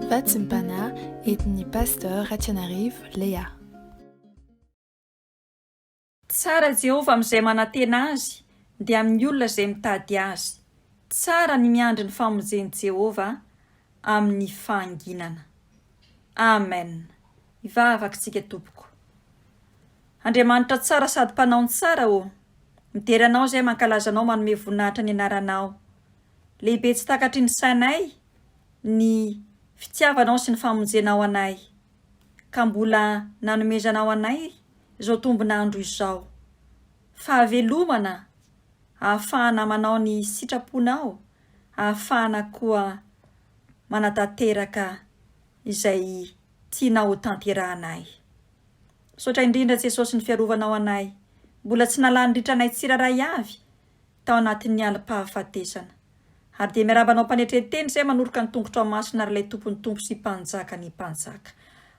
Fahatsimpana entin'ny Pasteur Ratsianarivo Léa. Tsara Jehovah amin'izay manantena azy dia amin'ny olona izay mitady azy. Tsara ny miandry ny famonjen'i Jehovah amin'ny fahanginana. Amen! Hivavaka isika tompoko. Andriamanitra tsara sady mpanao ny tsara ô! Midera anao izahay mankalaza anao manome voninahitra ny anaranao. Lehibe tsy takatry ny sainay ny fitiavanao sy ny famonjenao anay, ka mbola nanomezanao anay izao tombon'andro izao. Fahavelomana ahafahana manao ny sitraponao, ahafahana koa manatanteraka izay tianao hotanterahanay. Misaotra indrindra Jesosy ny fiarovanao anay, mbola tsy nalan'ny ritranay tsirairay avy tao anatin'ny alim-pahafatesana. Ary dia miarahaba anao mpanetren-teny izay manoroka ny tongotrao masina ary ilay Tompon'ny Tompo sy Mpanjakan'ny mpanjaka.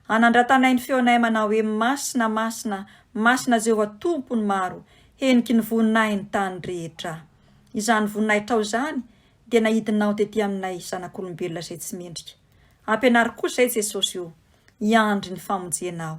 Hanandratanay ny feonay manao hoe Masina, Masina, Masina Jehovah Tompon'ny maro, heniky ny voninahin'ny tany rehetra. Izany voninahitrao izany dia nahidinao tety aminay zanak'olombelona izay tsy mendrika. Ampianaro kosa, Ry Jesosy o, hiandry ny famonjenao.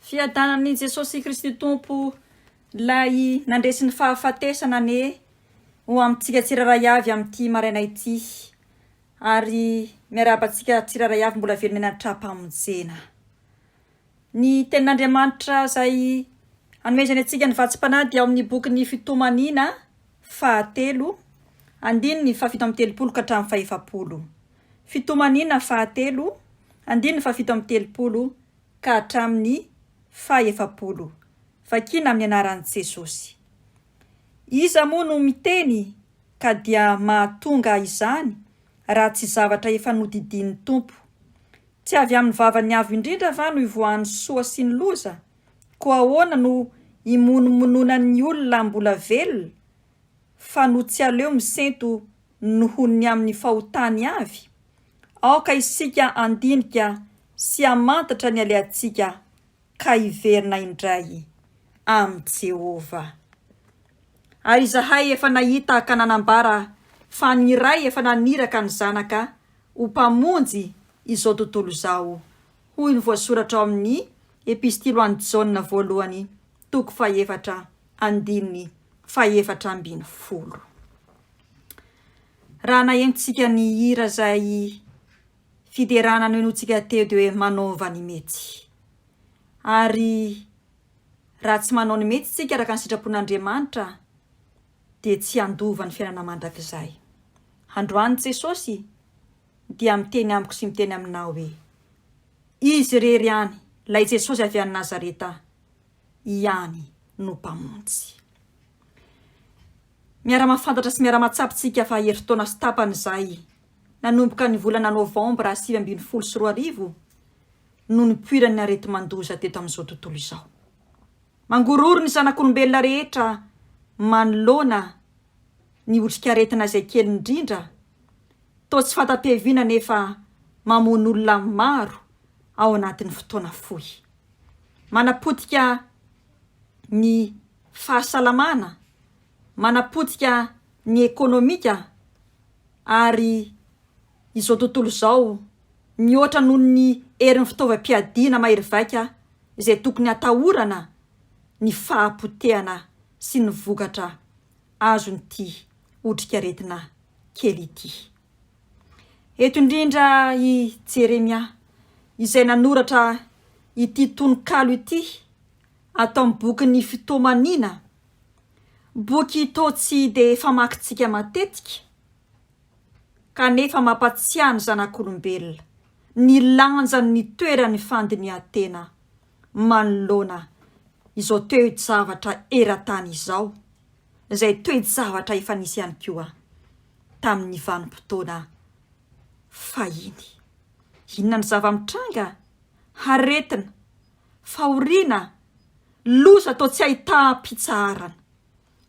Fiadanan'i Jesosy Kristy Tompo Ilay nandresy ny fahafatesana anie ho amintsika tsirairay avy amin'ity maraina ity ary miarahaba antsika tsirairay avy mbola velona eny an-trahampamonjena. Ny tenin'Andriamanitra izay anomezany antsika ny vatsim-panahy dia ao amin'ny bokin'ny Fitomaniana fahatelo, andininy fahafito amby telopolo ka hatramin'ny fahefapolo. Fitomaniana fahatelo, andininy fahafito amby telopolo ka hatramin'ny fahaefapolo, vakiana amin'ny anaran'i Jesosy. Iza moa no miteny ka dia mahatonga izany raha tsy zavatra efa nodidian'ny Tompo? Tsy avy amin'ny vavan'ny Avo Indrindra va no ivoahan'ny soa sy ny loza? Koa ahoana no imonomononan'ny olona mbola velona fa no tsy aleo misento nohon'ny amin'ny fahotany avy? Aoka isika handinika sy hamantatra ny alehantsika ka hiverina indray amin'i Jehovah. Ary izahay efa nahita ka nanambara fa ny Ray efa naniraka ny Zanaka ho Mpamonjy izao tontolo izao, hoy ny voasoratra ao amin'ny Epistily ho an'i Jaona Voalohany Toko fahefatra andininy fahefatra ambin'ny folo. Raha nahenontsika nihira izay fiderana nohenointsika teo dia hoe manaova ny mety. Ary raha tsy manao ny mety isika araka ny sitrapon'Andriamanitra dia tsy handova ny fiainana mandrakizay. Androany Jesosy dia miteny amiko sy miteny aminao hoe izy irery ihany, ilay Jesosy avy any Nazareta ihany no Mpamonjy. Miara-mahafantatra sy miara-mahatsapa isika fa herintaona sy tapany izay, nanomboka ny volana novambra sivy ambin'ny folo sy roa arivo, no nipoiran'ny areti-mandoza teto amin'izao tontolo izao. Mangororo ny zanak'olombelona rehetra manoloana ny otrikaretina izay kely indrindra, toa tsy fanta-piaviana nefa mamono olona maro ao anatin'ny fotoana fohy. manapotika ny fahasalamana, manapotika ny ekonomika ary izao tontolo izao mihoatra noho ny herin'ny fitaovam-piadiana mahery vaika izay tokony hatahorana ny fahapotehana sy ny vokatra azon'ity otrikaretina kely ity. Eto indrindra i Jeremia, izay nanoratra ity tononkalo ity ato amin'ny bokin'ny Fitoamaniana, boky toa tsy dia famakintsika matetika, kanefa mampatsiahy ny zanak'olombelona ny lanjan'ny toeran'ny fandinihan-tena manoloana izao toe-javatra eran-tany izao. izay toe-javatra efa nisy ihany koa tamin'ny vanim-potoana fahiny. Inona ny zava-mitranga? Aretina, fahoriana, loza toa tsy ahitam-pitsaharana,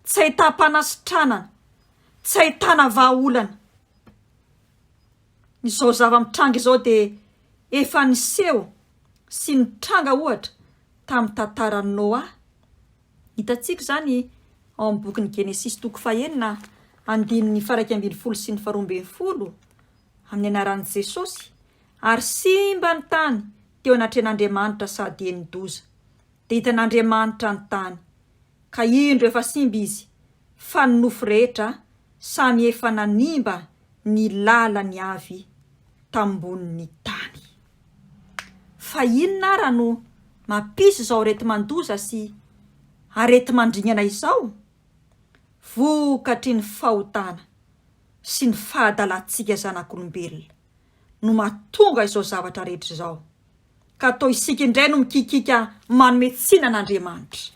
tsy ahitam-panasitranana, tsy ahitana vahaolana. Izao zava-mitranga izao dia efa niseho sy nitranga ohatra tamin'ny tantaran'i Noa, Hitantsika izany ao amin'ny bokin'ny Genesisy toko fahenina andininy faraika ambin'ny folo sy ny faharoa ambin'ny folo, amin'ny anaran'i Jesosy, Ary simba ny tany teo anatrehan'Andriamanitra sady henon-doza. Dia hitan'Andriamanitra ny tany, ka indro efa simba izy, fa ny nofo rehetra samy efa nanimba ny lalany avy tambonin'ny tany. Fa inona ara no mampisy izao areti-mandoza sy areti-mandringana izao? Vokatry ny fahotana sy ny fahadalantsika zanak'olombelona no mahatonga izao zavatra rehetra izao, ka toa isika indray no mikikiaka manome tsiny an'Andriamanitra.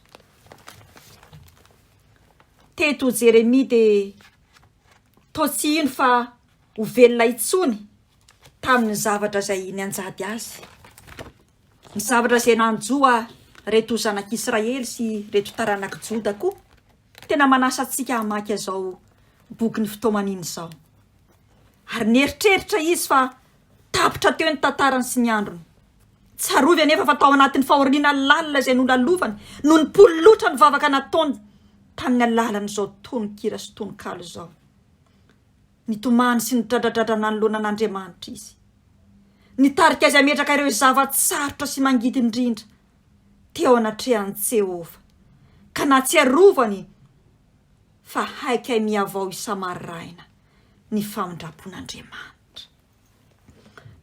Teto Jeremia dia toa tsy hino fa ho velona intsony tamin'ny zavatra izay nianjady azy, ny zavatra izay nanjo ahy reto zanak'Israely sy reto taranak'i Joda koa tena manasa antsika hamaky azao bokin'ny fitaomanina izao. Ary nieritreritra izy fa tapitra teo ny tantarany sy ny androny. Tsarovy anefa fa tao anatin'ny fahoriana lalina izay nolalovany no nipololotra ny vavaka nataony tamin'ny alalan'izao tononkira sy tononkalo izao. Nitomany sy nidradradradra nanoloana an'Andriamanitra izy. Nitarika azy hametraka ireo zava-tsarotra sy mangidy indrindra teo anatrehan'i Jehovah, ka nahatsiarovany fa haikay mihavao isa-maraina ny famindram-pon'Andriamanitra.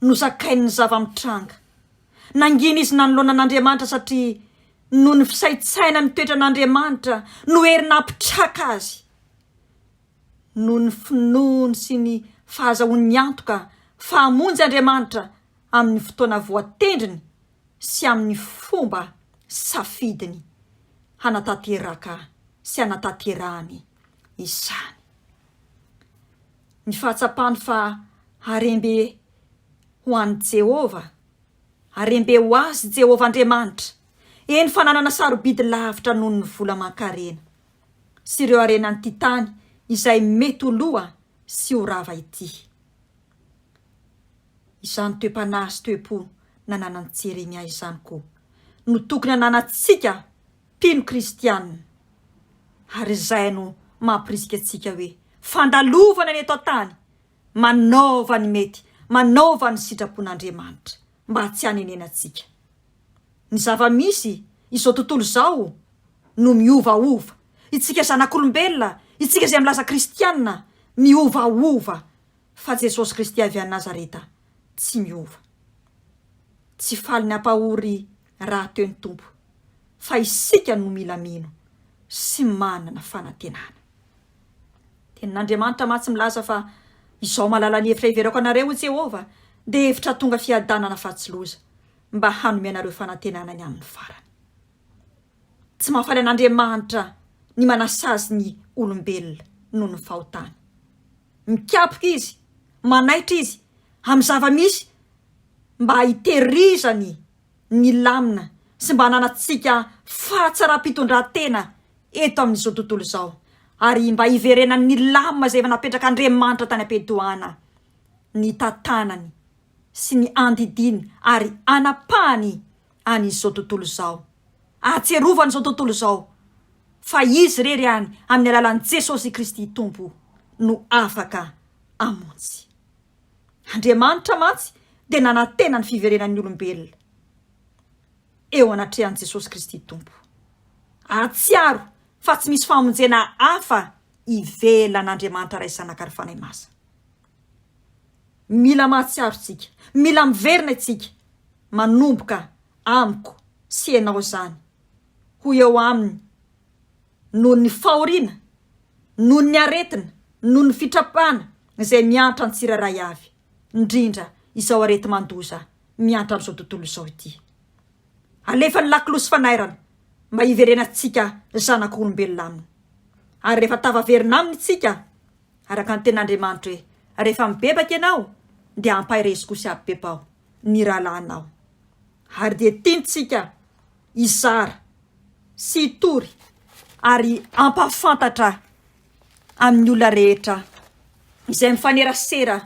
Nozakainy ny zava-mitranga. Nangina izy nanoloana an'Andriamanitra satria noho ny fisaintsainany ny toetran'Andriamanitra no hery nampitraka azy noho ny finoany sy ny fahazahoany ny antoka fa hamonjy Andriamanitra amin'ny fotoana voatendriny sy amin'ny fomba safidiny hanatanteraka sy hanatanterahany izany. Ny fahatsapany fa harem-be ho an'i Jehovah, harem-be ho azy Jehovah Andriamanitra, eny fa nanana sarobidy lavitra noho ny vola aman-karena. sy ireo harenan'ity tany izay mety ho loha sy ho rava ity. Izany toe-panahy sy toe-po nananan'i Jeremia izany koa no tokony hananantsika mpino kristiana, ary izay no mampirisika antsika hoe, Fandalovana ny eto an-tany, manaova ny mety, manaova ny sitrapon'Andriamanitra. mba tsy hanenenantsika. Ny zava-misy izao tontolo izao no miovaova. Itsika zanak'olombelona, itsika izay milaza kristiana, miovaova, fa Jesosy Kristy avy any Nazareta tsy miova. Tsy faly ny hampahory rahateo ny Tompo, fa isika no mila mino sy manana fanantenana. Tenin'Andriamanitra mantsy milaza fa, Izao malala ny hevitra hiverako anareo, hoy Jehovah, dia hevitra tonga fiadanana fa tsy loza, mba hanome anareo fanantenana ny amin'ny farany. Tsy mahafaly an'Andriamanitra ny manasazy ny olombelona noho ny fahotany. Mikapoka izy, manaitra izy amin'ny zava-misy mba hitehirizany nilamina sy mba hananantsika fahatsaram-pitondrantena eto amin'izao tontolo izao ary mba hiverenany nilamina izay efa napetrak'Andriamanitra tany am-piandohana ny tantanany sy ny andidiany ary hanapahany an'izao tontolo izao. Ahatsiarovany izao tontolo izao fa Izy irery ihany amin'ny alalan'i Jesosy Kristy Tompo no afaka hamonjy. Andriamanitra mantsy dia nanantena ny fiverenan'ny olombelona eo anatrehan'i Jesosy Kristy Tompo. Hahatsiaro fa tsy misy famonjena hafa ivelan'Andriamanitra Ray sy Zanaka ary Fanahy Masina. Mila mahatsiaro isika, mila miverina isika, manomboka amiko sy ianao izany ho eo aminy noho ny fahoriana, noho ny aretina, noho ny fitrapana, izay miantra ny tsirairay avy, indrindra izao areti-mandoza miantra amin'izao tontolo izao ity. Alefa ny lakolosy fanairana mba hiverenantsika zanak'olombelona aminy. Ary rehefa tafaverina aminy isika, araka ny tenin'Andriamanitra hoe, Rehefa mibebaka ianao, dia ampahirezy koa sy abebaho ny rahalahinao. Ary dia tiantsika hizara sy hitory ary hampahafantatra amin'ny olona rehetra izay mifanerasera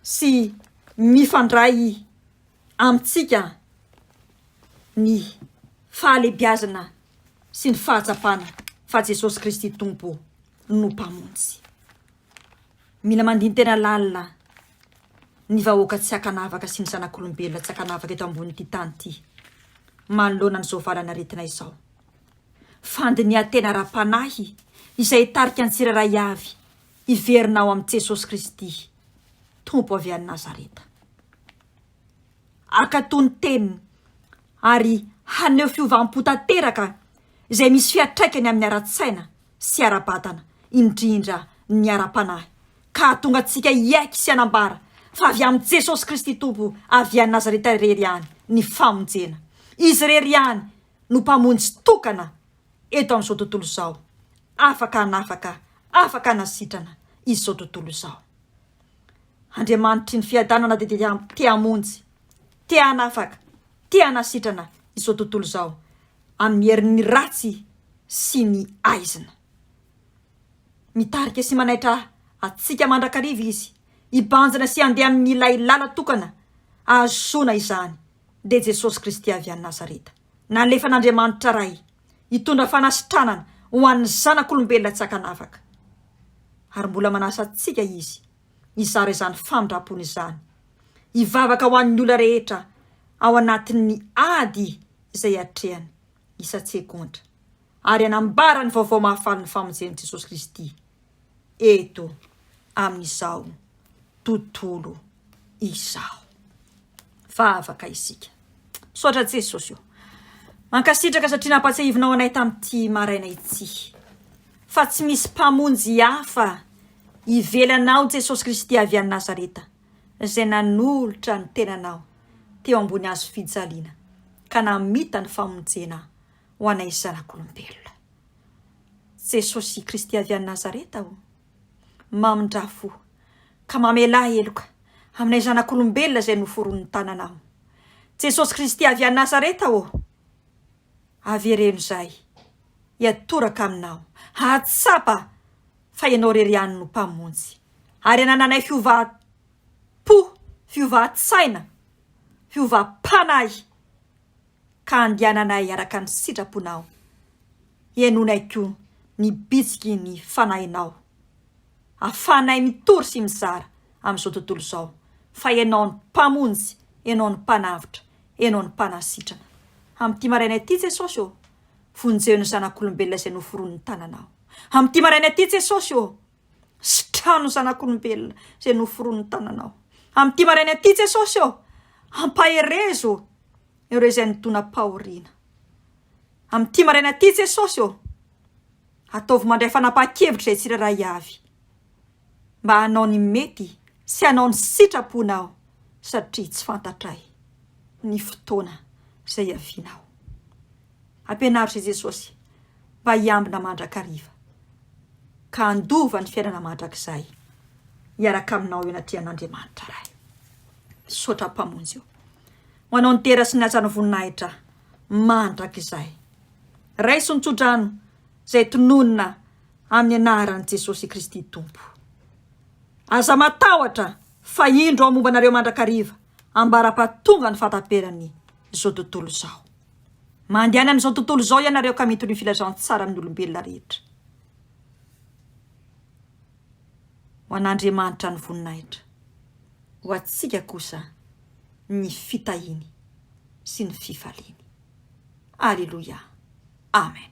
sy mifandray amintsika ny fahalebiazana sy ny fahatsapana fa Jesosy Kristy Tompo no Mpamonjy. Mila mandini-tena lalina ny vahoaka tsy ankanavaka sy ny zanak'olombelona tsy ankanavaka eto ambonin'ity tany ity manoloana an'izao valanaretina izao. fandinihan-tena ara-panahy izay hitarika ny tsirairay avy hiverina ao amin'i Jesosy Kristy, Tompo avy any Nazareta. Hankatò ny teniny ary haneho fiovam-po tanteraka izay misy fiantraikany amin'ny ara-tsaina sy ara-batana, indrindra ny ara-panahy, ka hahatonga antsika hiaiky sy hanambara fa avy amin'i Jesosy Kristy Tompo avy any Nazareta irery ihany ny famonjena. Izy irery ihany no Mpamonjy tokana eto amin'izao tontolo izao, afaka hanafaka, afaka hanasitrana izao tontolo izao. Andriamanitry ny fiadanana dia te hamonjy, te hanafaka, te hanasitrana izao tontolo izao amin'ny herin'ny ratsy sy ny aizina. Mitarika sy manaitra antsika mandrakariva Izy, hibanjina sy handeha amin'ilay làla tokana ahazoana izany. dia Jesosy Kristy avy any Nazareta, nalefan'Andriamanitra Ray hitondra fanasitranana ho an'ny zanak'olombelona tsy an-kanavaka. Ary mbola manasa antsika Izy hizara izany famindrampony izany, hivavaka ho an'ny olona rehetra ao anatin'ny ady izay atrehany isan-tsegontra, ary hanambara ny vaovao mahafalin'ny famonjen'i Jesosy Kristy. eto amin'izao tontolo izao fa afaka isika misaotra jesosy o mankasitraka satria nampatsiahivinao anay tamin'ity maraina ity fa tsy misy mpamonjy hafa ivelanao jesosy kristy avy any nazareta izay nanolotra ny tenanao teo ambony azo fijaliana ka namita ny famonjena ho anay zanak'olombelona Jesosy Kristy avy any Nazareta ô, mamindrà fo ka mamelà heloka aminay zanak'olombelona izay noforonin'ny tananao. Jesosy Kristy avy any Nazareta ô, avereno izahay hiatoraka aminao, hahatsapa fa ianao irery ihany no Mpamonjy, ary hanananay fiovam-po, fiovan-tsaina, fiovam-panahy. ka andiananay araka ny sitraponao, henoinay koa ny bitsiky ny fanahinao, ahafahanay mitory sy mizara amin'izao tontolo izao fa ianao no Mpamonjy, ianao no Mpanavotra, ianao no Mpanasitrana. Amin'ity maraina ity Jesosy ô, vonjeo ny zanak'olombelona izay noforonin'ny tananao. Amin'ity maraina ity Jesosy ô. sy trano zanak'olombelona izay noforonin'ny tananao. Amin'ity maraina ity Jesosy ô, ampaherezo ireo izay nidonam-pahoriana. Amin'ity maraina ity Jesosy ô, ataovy mandray fanapahan-kevitra izay tsirairay avy mba hanao ny mety sy hanao ny sitraponao satria tsy fantatray ny fotoana izay hiavianao. Ampianaritry i Jesosy mba hiambina mandrakariva, ka handova ny fiainana mandrakizay hiaraka aminao eo anatrehan' Andriamanitra Ray. Misaotra Mpamonjy o, ho anao ny dera sy ny hajan'ny voninahitra mandrakizay. Raiso ny tsodrano izay tononina amin'ny anaran'i Jesosy Kristy Tompo. Aza matahotra fa indro aho momba anareo mandrakariva, ambara-pahatongan'ny fahataperan'ny izao tontolo izao. Mandehana amin'izao tontolo izao ianareo ka mitory ny filazantsaran'ny olombelona rehetra ho an'Andriamanitra ny voninahitra, ho antsika kosa ny fitahiany sy ny fifaliany. Aleloia. Amen.